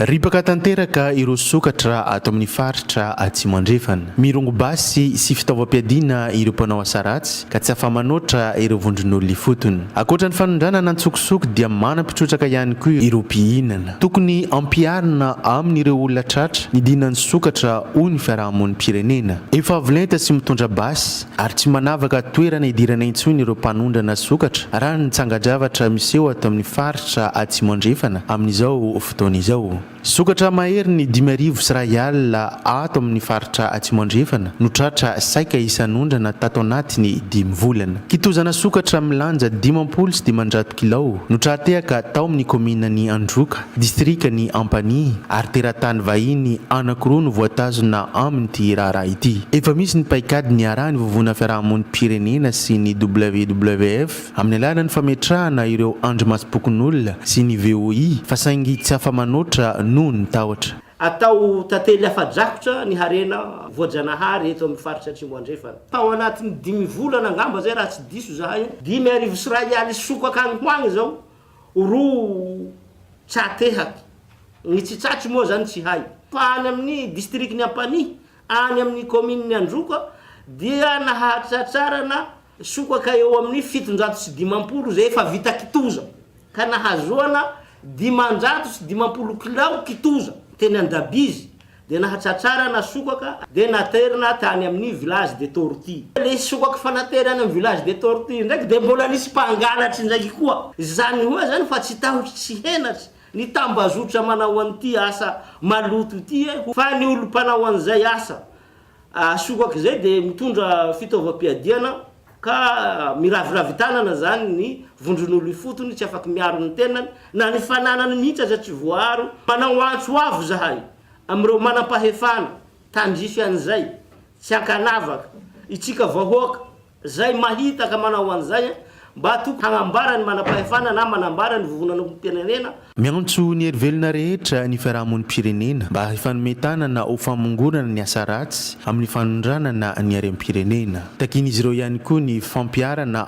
Ripaka tanteraka ireo sokatra ato amin'ny faritra Atsimo Andrefana. Mirongo basy sy fitaovam-piadiana ireo mpanao asa ratsy ka tsy afa-manoatra ireo vondron'olona ifotony. Ankoatra ny fanondranana an-tsokosoko dia manam-pitrotraka ihany koa ireo mpihinana. Tokony hampiharina amin'ireo olona tratra ny dinan'ny sokatra hoy ny fiarahamonim-pirenena. Efa avo lenta sy mitondra basy ary tsy manavaka toerana hidirana intsony ireo mpanondrana sokatra, raha ny tsangan-javatra miseho ato amin'ny faritra Atsimo Andrefana amin'izao fotoana izao. Sokatra mahery ny dimy arivo sy iray alina ato amin'ny faritra Atsimo Andrefana no tratra saika isan'ondrana tato anatin'ny dimy volana. Kitozana sokatra milanja dimampolo sy dimanjato kilao no tra-tehaka tao amin'ny kaomininan'i Androka. distrikan'i Ampani, ary teratany vahiny anankiroa no voatazona amin'ity raharaha ity. Efa misy ny paikady niarahan'ny Vovonana Fiarahamonim-pirenena sy ny WWF amin'ny alalan'ny fametrahana ireo andrimasom-pokonolona sy ny VOI fa saingy tsy afa-manoatra noho ny tahotra. Atao tantely afa-drakotra ny harena voajanahary eto amin'ny faritra Atsimo Andrefana. Tao anatin'ny dimy volana angamba izay raha tsy diso izahay. Dimy arivo sy iray aly sy sokaka any ho any izao roa tsatehaky. Ny tsitsatsy moa izany tsy hay. Fa any amin'ny distrikan'i Ampanihy, any amin'ny kaominin'i Androka, dia nahatratrarana sokaka eo amin'ny fitonjato sy dimampolo izay efa vita kitoza, ka nahazoana dimanjato sy dimampolo kilao kitoza teny Andabizy, dia nahatratrarana sokaka dia naterina tany amin'ny Village des Tortues. Ilay sokaka efa naterina any amin'ny Village des Tortues indraiky dia mbola nisy mpangalatra indraiky koa. Izany hoa izany fa tsy tahotra tsy henatra ny tambazotra manao an'ity asa maloto ity e! Fa ny olom-panao an'izay asa Asokak'izay dia mitondra fitaovam-piadiana ka miraviravy tanana izany ny vondron'olo ifotony, tsy afaky miaro ny tenany na ny fananany mihitsy aza tsy voaaro. Manao antso avo izahay amin'ireo manam-pahefana tandrify an'izay, tsy ankanavaka, itsika vahoaka, Zay mahita ka manao an'izay an, mba tokony hagnambara ny manam-pahefana na manambara ny vovonanam-pirenena. Miantso ny herivelona rehetra ny fiarahamonim-pirenena mba hifanome tanana ho famongorana ny asa ratsy amin'ny fanondranana ny harem-pirenena. Takian'izy ireo ihany koa ny fampiharana